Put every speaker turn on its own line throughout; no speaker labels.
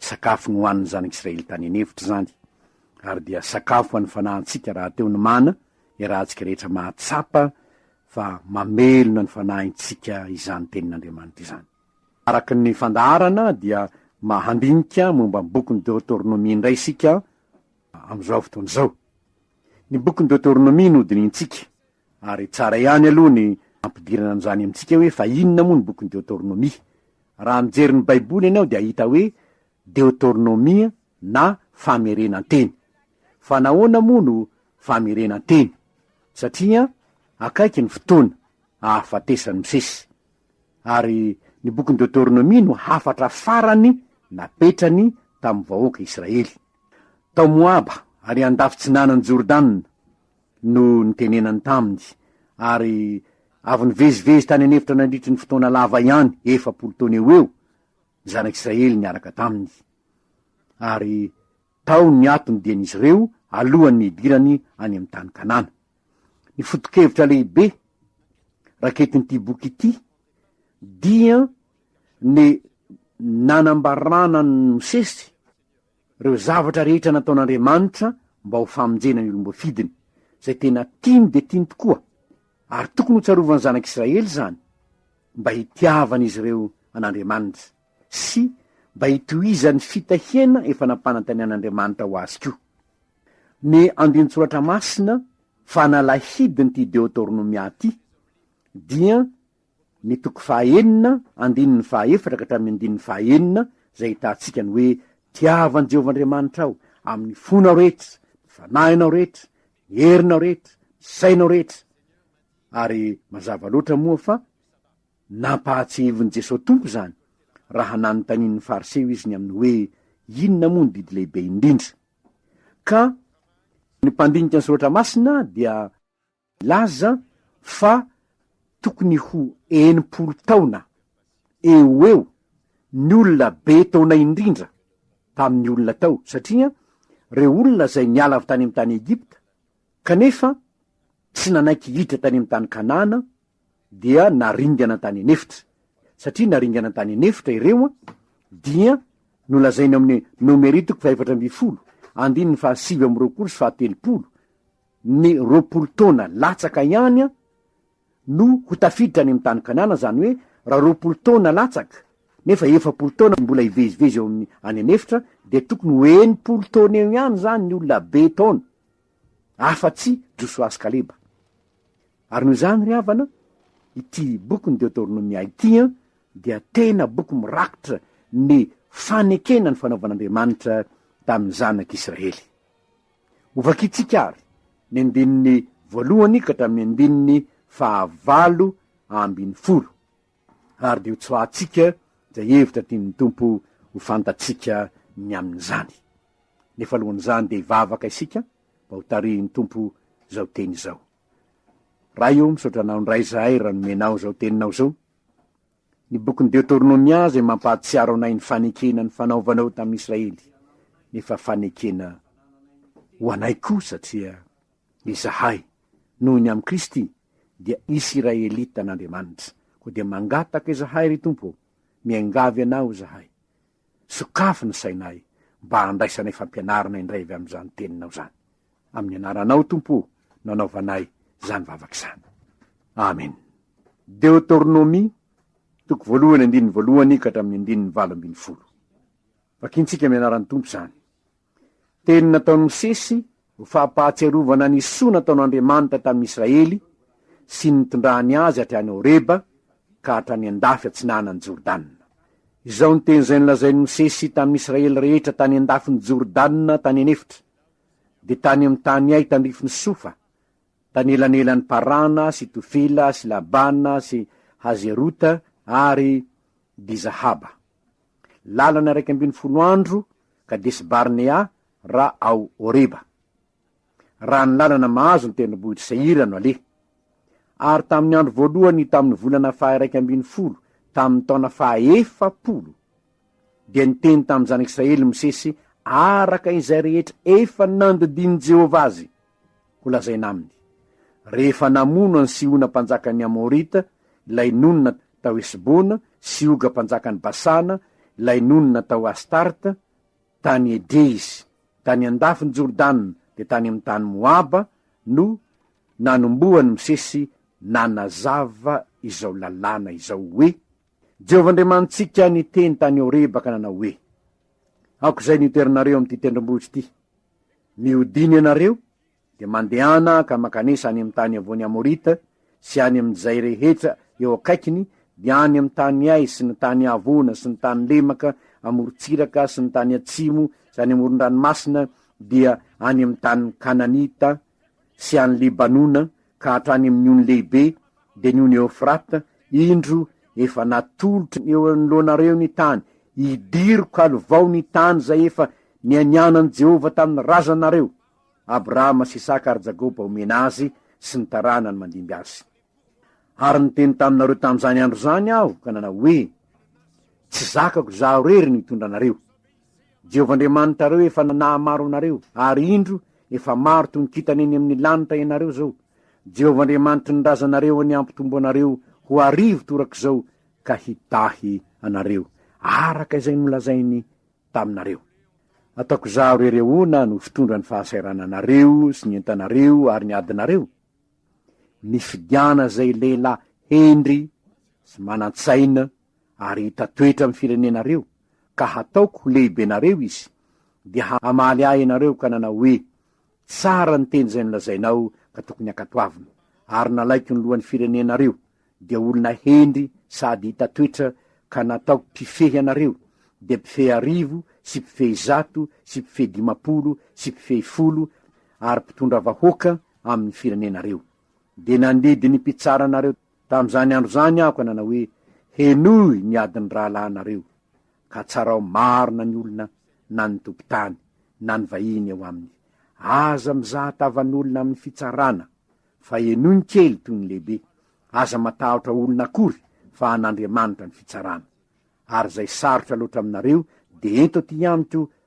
Sakafo nohanin'ny zanak'Israely tany an'efitra izany, ary dia sakafo an'ny fanahintsika rahateo ny mana, iarahantsika rehetra mahatsapa fa mamelona ny fanahintsika izany tenin'Andriamanitra izany. Araka ny fandaharana dia mahandinika momba ny bokin'ny Deoteronomia indray isika amin'izao fotoana izao. Ny bokin'ny Deoteronomia no dinihintsika. Ary tsara ihany aloha ny ampidirana an'izany amintsika hoe fa inona moa ny bokin'ny Deotornomia. Raha mijery ny Baiboly ianao dia hahita hoe Deotornomia na Famerenan-teny. Fa nahoana moa no famerenan-teny? Satria akaiky ny fotoana ahafatesan'i Mosesy. Ary ny bokin'ny Deotornomia no hafatra farany napetrany tamin'ny vahoaka Israely. Tao Moaba ary andafy tsinanan'i Jordana, no nitenenany taminy, ary avy nivezivezy tany an'efitra nandritry ny fotoana lava ihany, efapolo taona eo ho eo, ny Zanak'Israely niaraka taminy. Ary tao ny ato ny dian'izy ireo alohan'ny hidirany any amin'ny tany Kanana. Ny foto-kevitra lehibe raketin'ity boky ity dia ny nanambarana an'i Mosesy, Ireo zavatra rehetra nataon'Andriamanitra mba ho famonjena ny olom-boafidiny, izay tena tiany dia tiany tokoa, ary tokony ho tsarovan'ny zanak'Israely izany, mba hitiavan'izy ireo an'Andriamanitra, sy mba hitohizan'ny fitahiana efa nampanantenain'Andriamanitra ho azy koa. Ny andinin-tsoratra masina fanalahidin'ity Deotornomia ity dia ny toko fahaenina andininy fahaefatra ka hatramin'ny andininy fahaenina, izay ahitantsika ny hoe, Tiavo an'i Jehovah Andriamanitrao amin'ny fonao rehetra, ny fanahinao rehetra, ny herinao rehetra, ny sainao rehetra. Ary mazava loatra moa fa nampahatsiahivin'i Jesosy Tompo izany, raha nanontanian'ny Fariseo izy ny amin'ny hoe, Inona moa ny didy lehibe indrindra? Ka ny mpandinika ny Soratra Masina dia. Laza fa tokony ho enimpolo taona eo ho eo ny olona be taona indrindra tamin'ny olona tao, satria reo olona zay niala avy tany amin'ny tany Egypta kanefa tsy nanaiky hiditra tany amin'ny tany Kanana dia naringana tany an'efitra, satria naringana tany an'efitra ireo dia nolazaina ao amin'ny Nomeri toko faha efatra ambin'ny folo andininy faha sivy amby roapolo sy faha telopolo, ny roapolo taona latsaka ihany no ho tafiditra any amin'ny tany Kanana, izany hoe raha roapolo taona latsaka nefa efapolo taona no mbola hivezivezy eo amin'ny any an'efitra dia tokony ho enimpolo taona eo ihany izany ny olona be taona, afa-tsy Josoa sy Kaleba. Ary noho izany ry havana, ity bokin'ny Deoteronomia ity dia tena boky mirakitra ny fanekena ny fanaovan'Andriamanitra tamin'ny zanak'Israely. Hovakintsika àry ny andininy voalohany ka hatramin'ny andininy fahavalo ambin'ny folo, ary dia hotsoahantsika izay hevitra tian'ny Tompo ho fantatsika ny amin'izany. Nefa alohan'izany dia hivavaka isika mba ho tarihin'ny Tompo izao teny izao. Ray ô, misaotra Anao indray izahay raha nomenao izao teninao izao. Ny bokin'ny Deoteronomia izay mampahatsiaro anay ny fanekena nifanaovana eo tamin'i Israely, nefa fanekena ho anay koa satria izahay, noho ny amin'i Kristy, dia Isiraelita an'Andriamanitra. Koa dia mangataka izahay, ry Tompo ô, miangavy Anao izahay, sokafy ny sainay mba handraisanay fampianarana indray avy amin'izany Teninao izany. Amin'ny anaranao Tompo o no anaovanay zany vavaka zany. Amen. Deotornomia, toko voalohany andininy voalohany ka hatramin'ny andininy valo ambin'ny folo. Vakintsika amin'ny anaran'ny Tompo zany. Teny nataon'i Mosesy ho fampahatsiarovana ny soa nataon'Andriamanitra tamin'i Israely sy ny nitondrany azy hatrany Horeba ka hatrany andafy atsinanan'i Jordana. Izao ny teny izay nolazain'i Mosesy tamin'i Israely rehetra tany andafin'i Jordana tany an'efitra. dia tany amin'ny taniay tandrifin'i Sofa, tany elanelan'i Parana sy Tofila sy Labana sy Hazerota ary Dizahaba. Lalana iraika ambin'ny folo andro Kadesi-Barnea raha ao Horeba. Raha ny lalana mahazo ny tendrombohitr'i Seira no aleha. Ary tamin'ny andro voalohany tamin'ny volana faha-iraika ambin'ny folo, tamin'ny taona faha-efapolo, Dia niteny tamin'ny zanak'i Israely Mosesy araka izay rehetra efa nandidian'i Jehovah azy ho lazaina aminy, rehefa namono an'i Sihona mpanjakan'ny Amorita, ilay nonina tao Hesbona, sy Oga mpanjakan'i Basana, ilay nonina tao Astarta, tany Edreisy, tany an-dafin'i Jordana, dia tany amin'ny tany Moaba no nanombohan'i Mosesy nanazava izao lalàna izao hoe, Jehovah Andriamanitsika niteny tany Horeba ka nanao hoe, Aok'izay niterinareo amin'ity tendrombohitra ity, mihodina ianareo, dia mandehana ka mankanesa any amin'ny tany iavoan'ny Amorita sy any amin'izay rehetra eo akaikiny, dia any amin'ny tany Hay sy ny tany Havona sy ny tany Lemaka, amorontsiraka sy ny tany atsimo sy any amoron-dranomasina, dia any amin'ny tanin'ny Kananita sy any Libanona ka hatrany amin'ny ony lehibe, dia ny ony Eofrata, indro, efa natolotro eo anoloanareo ny tany, hidiriko halivao ny tany izay efa nianianan'i Jehovah tamin'ny razanareo, Abrahama sy Isaka ary Jakoba homena azy sy ny taranany mandimby azy. Ary niteny taminareo tamin'izany andro izany aho ka nanao hoe, Tsy zakako izaho irery no hitondra anareo, Jehovah Andriamanitrareo efa nahamaro anareo, ary indro, efa maro toy ny kintana eny amin'ny lanitra ianareo izao. Jehovah Andriamanitry ny razanareo anie hampitombo anareo ho arivo torak'izao ka hidahy anareo, araka izay nolazainy taminareo. Ataoko izaho irery ahoana no fitondra ny fahasairananareo sy ny entanareo ary ny adinareo? Mifidiana izay lehilahy hendry sy manan-tsaina, ary hita toetra amin'ny firenenareo, ka hataoko ho lehibenareo izy, dia hamaly ahy ianareo ka nanao hoe, Tsara ny teny izay nolazainao ka tokony hankatoavina. Ary nalaiko ny lohan'ny firenenareo, dia olona hendry sady hita toetra, ka nataoko mpifehy anareo, dia mpifehy arivo, sy mpifehy zato, sy mpifehy dimampolo, sy mpifehy folo, ary mpitondra vahoaka amin'ny firenenareo. Dia nandidy ny mpitsara anareo. Tamin'izany andro izany aho ka nanao hoe, Henoy ny adin'ny rahalahinareo, ka tsarao marina ny olona na ny tompon-tany na ny vahiny eo aminy. Aza mizaha tavan'olona amin'ny fitsarana, fa henoy ny kely toy ny lehibe. Aza matahotra olona akory, fa an'Andriamanitra ny fitsarana. Ary izay sarotra loatra aminareo, dia ento aty amiko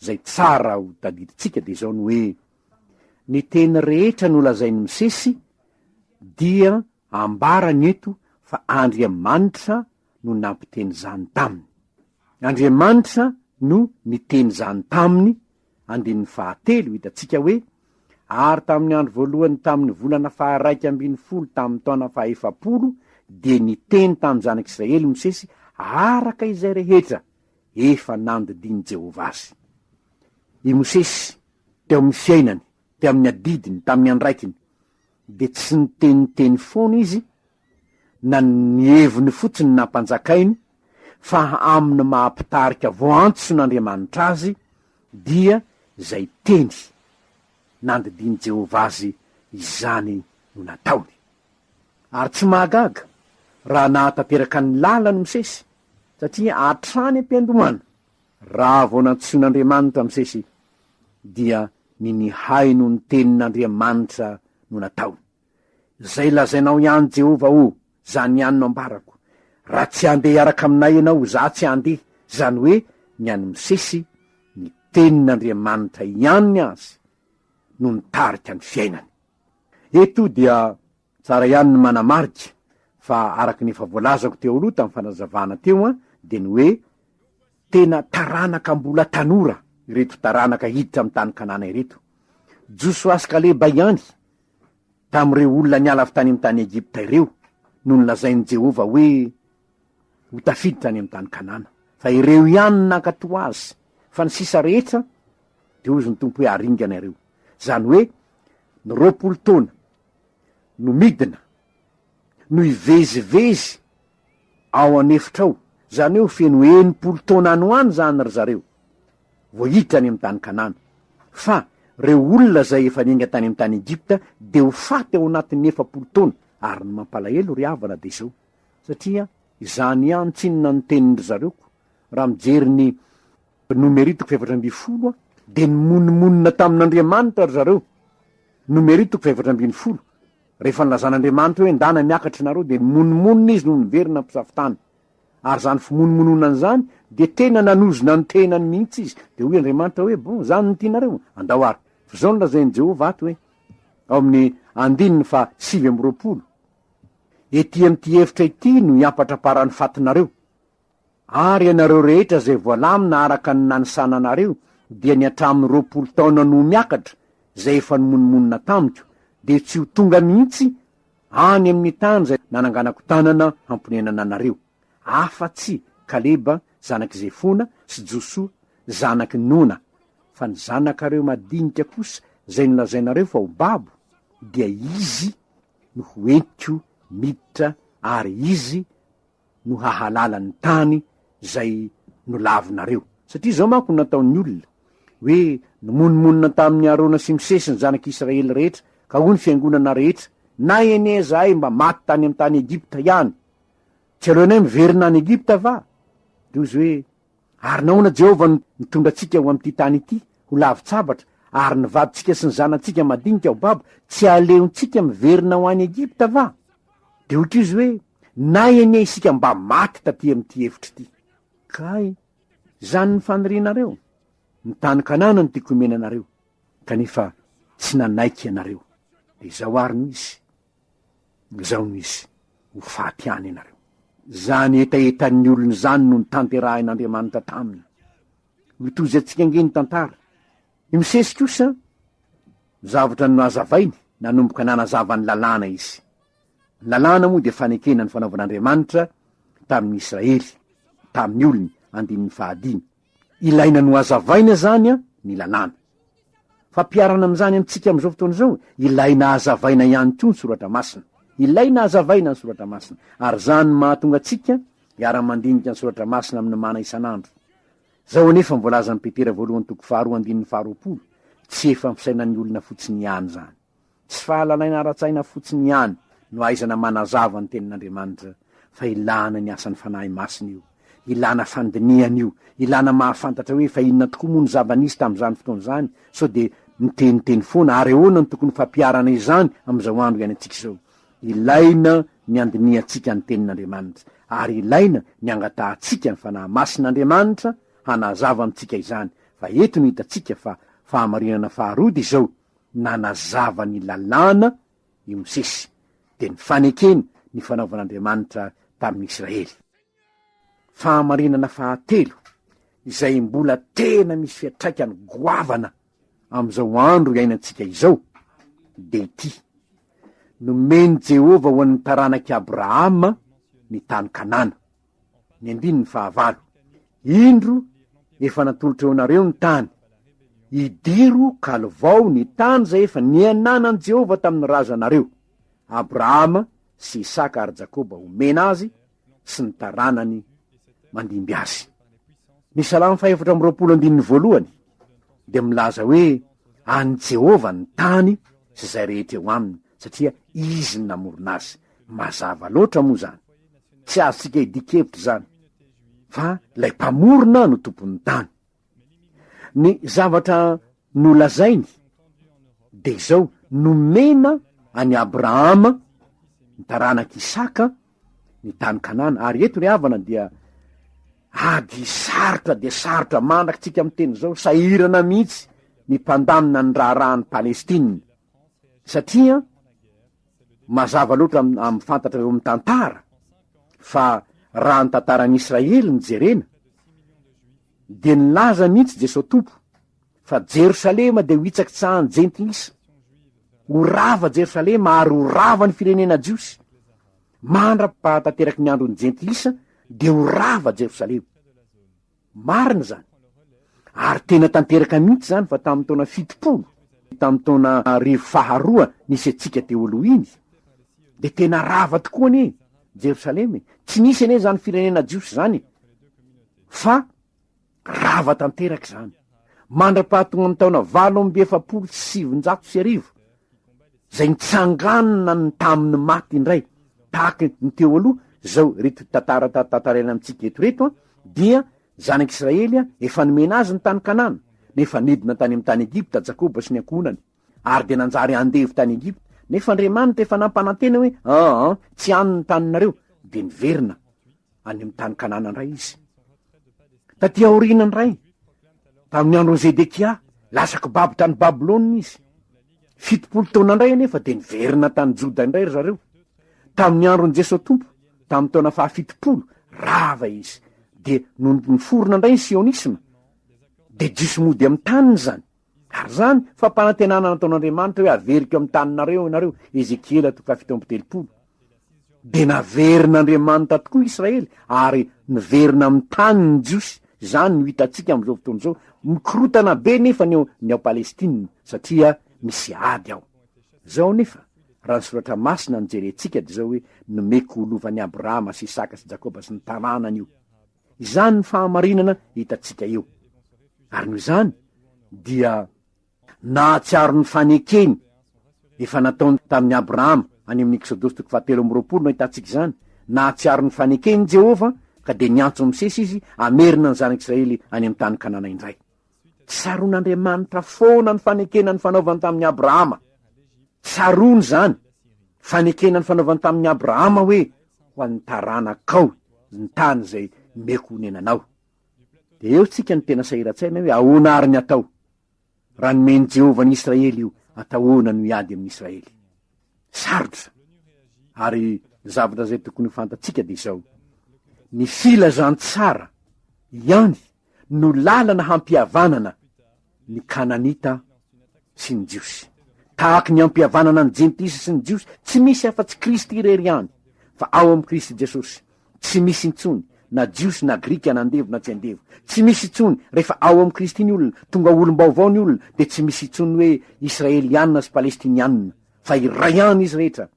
Izay tsara ho tadidintsika dia izao ny hoe, ny teny rehetra nolazain'i Mosesy dia ambarany eto fa Andriamanitra no nampiteny izany taminy. Andriamanitra no niteny izany taminy, andininy fahatelo, hitantsika hoe, Ary tamin'ny andro voalohany tamin'ny volana faharaika ambin'ny folo tamin'ny taona fahefapolo dia niteny tamin'ny zanak'Israely Mosesy araka izay rehetra efa nandidian'i Jehovah azy. I Mosesy, teo amin'ny fiainany, teo amin'ny adidiny, tamin'ny andraikiny, dia tsy niteniteny foana izy na ny heviny fotsiny nampanjakainy fa amin'ny maha mpitarika voantson'Andriamanitra azy dia izay teny nandidian'i Jehovah azy izany no nataony. Ary tsy mahagaga raha nahatanteraka ny lalan'i Mosesy Satria hatrany am-piandohana, raha vao nantsoin'Andriamanitra Mosesy, dia ny nihaino ny tenin'Andriamanitra no nataony. Izay lazainao ihany Jehovah o, izany ihany no ambarako, Raha tsy handeha hiaraka aminay ianao, izaho tsy handeha, izany hoe ny an'i Mosesy, ny tenin'Andriamanitra ihany azy no nitarika ny fiainany. Eto dia Tsara ihany ny manamarika fa araka ny efa voalazako teo aloha tamin'ny fanazavana teo an, dia ny hoe tena taranaka mbola tanora ireto taranaka hiditra amin'ny tany Kanana ireto. Josoa sy Kaleba ihany tamin'ireo olona niala avy tany amin'ny tany Egypta ireo no nolazain'i Jehovah hoe ho tafiditra any amin'ny tany Kanana, fa ireo ihany no nankatò azy, fa ny sisa rehetra dia hozy ny Tompo hoe aringana ireo. Izany hoe ny roapolo taona. no midina, no hivezivezy ao an'efitra ao, zany hoe ho feno enimpolo taona any ho any zany ry zareo vao hiditra any amin'ny tany Kanana, fa reo olona zay efa niainga tany amin'ny tany Egypta de ho faty ao anatin'ny efapolo taona, ary ny mampalahelo ry havana de zao, satria izany ihany tsinona ny tenin-dry zareoko, raha mijery ny Nomery toko fahefatra ambin'ny folo a dia nimonomonona tamin'Andriamanitra ry zareo, Nomery toko fahefatra ambin'ny folo, rehefa nilazan'Andriamanitra hoe ndana miakatra ianareo dia nimonomonona izy no niverina mpisafo-tany, ary izany fimonomononany izany dia tena nanozona ny tenany mihitsy izy, dia hoy Andriamanitra hoe bon izany no tianareo, andao ary, fa izao no lazain'i Jehovah ato hoe, ao amin'ny andininy faha sivy amby roapolo, Ety amin'ity efitra ity no hiampatraparan'ny fatinareo. Ary ianareo rehetra izay voalamina araka ny nanisananareo, dia ny hatramin'ny roapolo taona no ho miakatra, izay efa nimonomonona tamiko, dia tsy ho tonga mihitsy any amin'ny tany izay nananganako tanana hamponenana anareo, afa-tsy Kaleba zanak'i Jefona sy Josoa zanak'i Nona, fa ny zanakareo madinika kosa izay nolazainareo fa ho babo, dia izy no ho entiko miditra ary izy no hahalala ny tany zay nolavinareo satria zao manko no nataon'ny olona hoe nomonomonona tamin'ny Arona sy Mosesy ny zanak'i Israely rehetra ka hoy ny fiangonana rehetra na enie zahay mba maty tany amin'ny tany Egypta ihany tsy aleonay miverina any Egypta va? Ry ozy hoe Ary nahoana Jehovah no nitondra antsika ho amin'ity tany ity, ho lavin-tsabatra, ary ny vadintsika sy ny zanatsika madinika ho babo tsy aleontsika miverina ho any Egypta va? Dia hoy Izy hoe, Na anie isika mba maty taty amin'ity efitra ity. Kay, izany no fanirianareo? Ny tany Kanana no tiako omena anareo. Kanefa tsy nanaiky ianareo. Dia izao àry no izy. Izao no izy, Ho faty any ianareo. Izany hetahetan'ny olona izany no notanterahin'Andriamanitra taminy. Mitovy antsika ange ny tantara. I Mosesy kosa, zavatra nohazavainy, nanomboka nanazava ny Lalàna izy. Ny Lalàna moa dia fanekena ny fanaovan'Andriamanitra tamin'ny Israely, tamin'ny olony, andininy fahadimy. Ilaina nohazavaina zany an ny lalàna. Fampiharana amin'izany amintsika amin'izao fotoana izao, ilaina hazavaina ihany koa ny soratra masina. Ilaina hazavaina ny soratra masina, ary izany no mahatonga antsika hiara-mandinika ny soratra masina amin'ny mana isan'andro. Izao anefa ny voalazan'i Petera voalohany toko faharoa andininy faharoapolo, tsy efa amin'ny fisainan'ny olona fotsiny ihany izany. Tsy fahalalaina ara-tsaina fotsiny ihany no ahaizana manazava ny Tenin'Andriamanitra fa ilana ny asan'ny Fanahy Masina io, ilana fandinihana io, ilana mahafantatra hoe fa inona tokoa moa ny zava-nisy tamin'izany fotoana izany sao dia miteniteny foana ary ahoana no tokony ho fampiharana izany amin'izao andro iainantsika izao. Ilaina ny andinihantsika ny Tenin'Andriamanitra ary ilaina ny angatahantsika ny Fanahy Masin'Andriamanitra hanazava amintsika izany fa eto no hitantsika fa fahamarinana faharoa dia izao, nanazava ny Lalàna i Mosesy, dia ny fanekeny ny fanaovan'Andriamanitra tamin'ny Israely. Fahamarinana fahatelo izay mbola tena misy fiantraikany goavana amin'izao andro iainantsika izao, dia ity, Nomen'i Jehovah ho an'ny taranak'i Abrahama ny tany Kanana. Ny andininy fahavalo. Indro, efa natolotra eo anareo ny tany. Idiro ka lovao ny tany izay efa niananan'i Jehovah tamin'ny razanareo, Abrahama sy Isaka ary Jakoba homena azy sy ny taranany mandimby azy. Ny Salamo fahefatra amby roapolo andininy voalohany dia milaza hoe an'i Jehovah ny tany sy izay rehetra eo aminy, satria izy no namorona azy. Mazava loatra moa zany. Tsy azontsika idikevitra izany fa lay mpamorona no tompon'ny tany. Ny zavatra nolazainy de izao nomena any Abrahama ny taranak'i Isaka ny tany Kanana ary eto ry havana dia ady sarotra dia sarotra mandraka tsika amin'ny teny izao sahirana mihitsy ny mpandamina ny raharahan'i Palestina satria Mazava loatra amin'ny fantatra eo amin'ny tantara fa raha ny tantaran'i Israely no jerena dia nilaza mihitsy Jesoa Tompo fa Jerosalema dia ho hitsakitsahan'ny jentilisa. Ho rava Jerosalema ary ho rava ny firenena jiosy. Mandra-pahatanteraky ny andron'ny jentilisa dia ho rava Jerosalema. Marina izany. Ary tena tanteraka mihitsy izany fa tamin'ny taona fitopolo, tamin'ny taona arivo faharoa nisy antsika teo aloha iny, dia tena rava tokoa anie Jerosalema e! Tsy nisy anie izany firenena jiosy izany e! Fa rava tanteraka izany. Mandra-pahatongan'ny taona valo amby efapolo sy sivinjato sy arivo, zay nitsanganona ny tamin'ny maty indray, tahaka ny teo aloha zao reto tantara tantaraina amintsika eto reto an, dia zanak'Israely an, efa nomena azy ny tany Kanana, nefa nidina tany amin'ny tany Egypta Jakoba sy ny ankohonany, ary dia nanjary andevo tany Egypta, nefa Andriamanitra efa nampanantena hoe, aa, tsy any ny taninareo, dia niverina. any amin'ny tany Kanana indray izy. Taty aoriana indray, tamin'ny andron'i Zedekia, lasa kibaby tany Babylona izy. Fitopolo taona indray anefa dia niverina tany Joda indray ry zareo. Tamin'ny andron'i Jesoa Tompo, tamin'ny taona fahafitopolo, rava izy, dia nony niforona indray ny sionisma, dia jiosy mody amin'ny taniny izany. Ary izany fampanantenana nataon'Andriamanitra hoe haveriko amin'ny taninareo ianareo, Ezekiela toko fahafito amby telopolo, dia naverin'Andriamanitra tokoa Israely ary niverina amin'ny taniny ny Jiosy, izany no hitantsika amin'izao fotoana izao, mikorotana be nefa ny ao, ny ao Palestina satria misy ady ao. Izao anefa, raha ny Soratra Masina no jerentsika dia izao hoe, Nomeko ho lovan'i Abrahama sy Isaka sy Jakoba sy ny taranany io. Izany ny fahamarinana hitantsika eo. Ary noho izany dia nahatsiaro ny fanekeny efa nataony tamin'i Abrahama, any amin'ny Eksodosy toko fahatelo amby roapolo no ahitantsika izany, nahatsiaro ny fanekeny i Jehovah ka dia niantso Mosesy izy hamerina ny zanak'Israely any amin'ny tany Kanana indray. Tsaroan'Andriamanitra foana ny fanekena nifanaovany tamin'i Abrahama. Tsaroany izany, fanekena nifanaovany tamin'i Abrahama hoe ho an'ny taranakao ny tany izay meko honenanao. Dia eo tsika ny tena sahiran-tsaina hoe ahoana ary ny atao? Raha nomen'i Jehovah an'i Israely io, atao ahoana no hiady amin'i Israely? Sarotra. Ary ny zavatra izay tokony ho fantatsika dia izao, ny filazantsara ihany no lalana hampihavanana ny Kananita sy ny Jiosy. Tahaky ny ampihavanana ny Jentisy sy ny Jiosy, tsy misy afa-tsy Kristy irery ihany, fa ao amin'i Kristy Jesosy, tsy misy intsony na Jiosy na Grika na andevo na tsy andevo. Tsy misy intsony, rehefa ao amin'i Kristy ny olona, tonga olom-baovao ny olona, dia tsy misy intsony hoe Israeliana sy Palestiniana, fa iray ihany izy rehetra,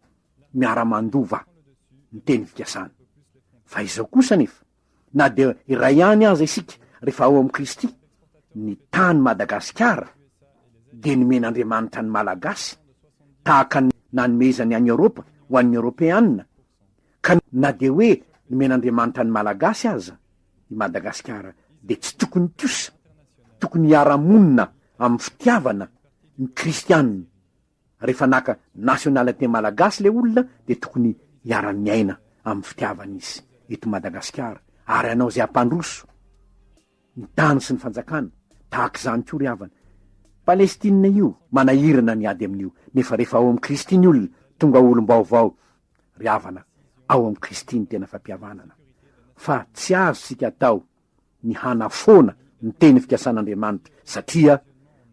miara-mandova ny teny fikasana. Fa izao kosa anefa. na dia iray ihany aza isika rehefa ao amin'i Kristy, ny tany Madagasikara dia nomen'Andriamanitra ny Malagasy tahaka ny nanomezany an'i Eoropa ho an'ny Eoropeana, ka na dia hoe nomen'Andriamanitra ny Malagasy aza i Madagasikara dia tsy tokony kosa, tokony hiara-monina amin'ny fitiavana ny Kristiana Rehefa naka nationalite malagasy le olona de tokony hiara miaina amin'ny fitiavany izy eto Madagasikara ary hanao ze hampandroso ny tany sy ny fanjakana tahaka izany koa ry havana Palestine io manahirana ny ady amin'io nefa rehefa ao amin'i Kristy ny olona tonga olom-baovao ry havana ao amin'i Kristy ny tena fampihavanana fa tsy azo tsika atao ny hanafoana ny teny fikasan'Andriamanitra, satria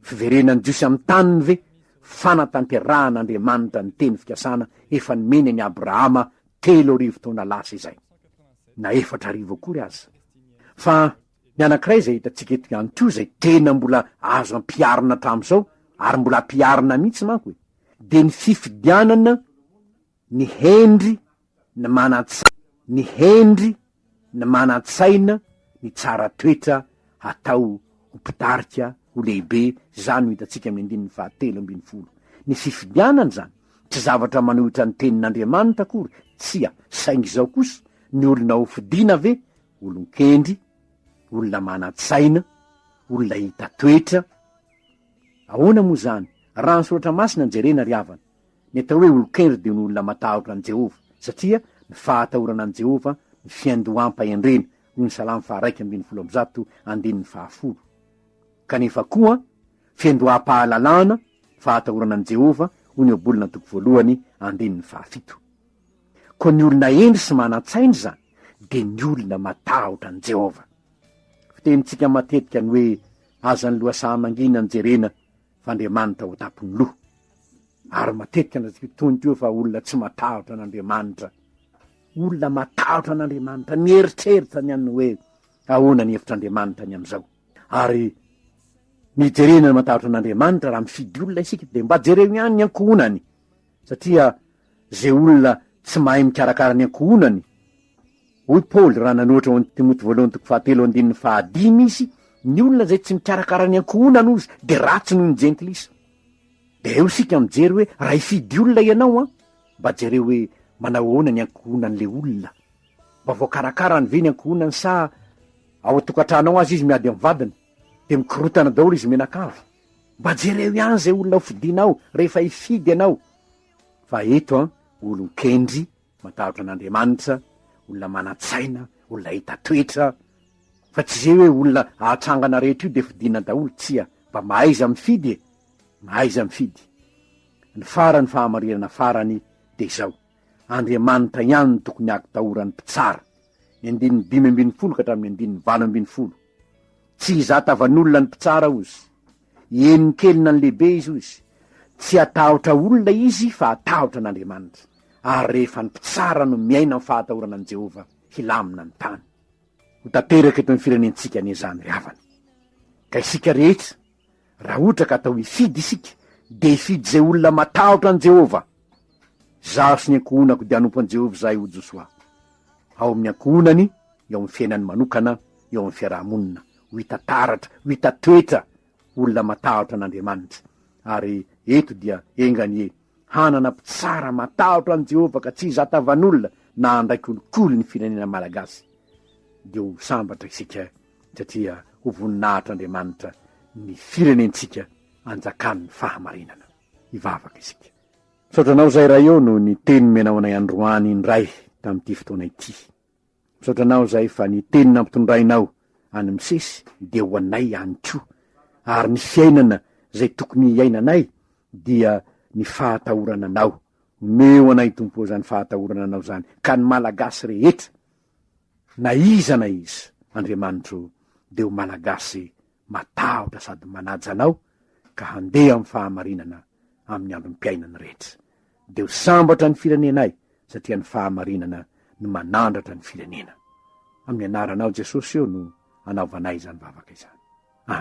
fiverenan'ny Jiosy amin'ny taniny ve? Fanatanterahan'Andriamanitra ny teny fikasana efa nomeny an'i Abrahama telo arivo taona lasa izay, na efatra arivo akory aza. Fa ny anankiray izay hitantsika eto ihany koa, izay tena mbola azo ampiharina hatramin'izao, ary mbola ampiharina mihitsy manko e, dia ny fifidianana ny hendry, ny manan-tsaina, ny hendry, ny manan-tsaina, ny tsara toetra hatao ho mpitarika, ho lehibe, izany no hitantsika amin'ny andininy fahatelo ambin'ny folo. Ny fifidianana izany, tsy zavatra manohitra ny tenin'Andriamanitra akory, tsia, saingy izao kosa, ny olona hofidiana ve, olon-kendry, olona manan-tsaina, olona hita toetra? Ahoana moa izany, raha ny Soratra Masina no jerena ry havana? Ny atao hoe olon-kendry dia ny olona matahotra an'i Jehovah, satria ny fahatahorana an'i Jehovah no fiandoham-pahendrena, hoy ny Salamo faharaika ambin'ny folo amby zato, andininy fahafolo. Kanefa koa, fiandoham-pahalalana ny fahatahorana an'i Jehovah, hoy ny Ohabolana antoko voalohany, andininy fahafito. Koa ny olona hendry sy manan-tsaina izany dia ny olona matahotra an'i Jehovah. Fitenintsika matetika ny hoe aza ny lohasaha mangina no jerena, f'Andriamanitra ho tampon'ny loha. Ary matetika no atsika toy ny teo fa olona tsy matahotra an'Andriamanitra. Olona matahotra an'Andriamanitra, mieritreritra ny an'ny hoe ahoana ny hevitr'Andriamanitra ny amin'izao. Ary mijerena ny matahotra an'Andriamanitra raha mifidy olona isika dia mba jereo ihany ny ankohonany. Satria ze olona tsy mahay mikarakara ny ankohonany, hoy Paoly raha nanohatra ho an'i Timoty voalohany toko fahatelo andininy fahadimy izy, ny olona izay tsy mikarakara ny ankohonany ozy dia ratsy noho ny jentilisa. Dia eo isika mijery hoe raha hifidy olona ianao an, mba jereo hoe manao ahoana ny ankohonan'ilay olona. Mba voakarakarany ve ny ankohonany sa ao an-tokantranao aza izy miady amin'ny vadiny? dia mikorotana daholo izy mianakavy, mba jereo ihany zay olona hofidinao rehefa hifidy ianao, fa eto an olon-kendry, matahotra an'Andriamanitra, olona manan-tsaina, olona hita toetra, fa tsy zay hoe olona ahatrangana rehetra io dia fidina daholo, tsia, mba mahaiza mifidy e, mahaiza mifidy. Ny farany fahamarinana farany dia izao, Andriamanitra ihany no tokony hahaktahora ny mpitsara, ny andininy dimy ambin'ny folo ka hatramin'ny andininy valo ambin'ny folo, Tsy izaho tavan'olona ny mpitsara ozy. Henon'i kelina ny lehibe izy ozy. Tsy hatahotra olona izy fa hatahotra an'Andriamanitra. Ary rehefa ny mpitsara no miaina amin'ny fahatahorana an'i Jehovah, hilamina ny tany. Ho tanteraka eto amin'ny firenentsika anie izany ry havana. Ka isika rehetra Raha ohatra ka atao hifidy isika, dia hifidy izay olona matahotra an'i Jehovah. Izaho sy ny ankohonako dia hanompo an'i Jehovah izahay, hoy Josoa. Ao amin'ny ankohonany, eo amin'ny fiainany manokana, eo amin'ny fiaraha-monina, ho hita taratra, ho hita toetra olona matahotra an'Andriamanitra. Ary eto dia enga anie! Hanana mpitsara matahotra an'i Jehovah ka tsy hizatavan'olona na handray kolikoly ny firenena malagasy. Dia ho sambatra isika satria ho voninahitr'Andriamanitra ny firenentsika anjakan'ny fahamarinana. Hivavaka isika. Misaotra anao Zairaiô noho ny teny nomenao anay androany indray tamin'ity fotoana ity. Misaotra anao zay fa ny teny nampitondrainao any Msesy dia ho anay ihany koa, ary ny fiainana zay tokony hiainanay dia ny fahatahorana anao, omeo anay Tompo ô zany fahatahorana anao zany ka ny Malagasy rehetra na iza na iza Andriamanitro dia ho Malagasy matahotra sady manaja anao ka handeha amin'ny fahamarinana amin'ny androm-piainany rehetra. dia ho sambatra ny firenenay satria ny fahamarinana no manandratra ny firenena. Amin'ny anaranao Jesosy o no anaovanay izany vavaka izany. Amen.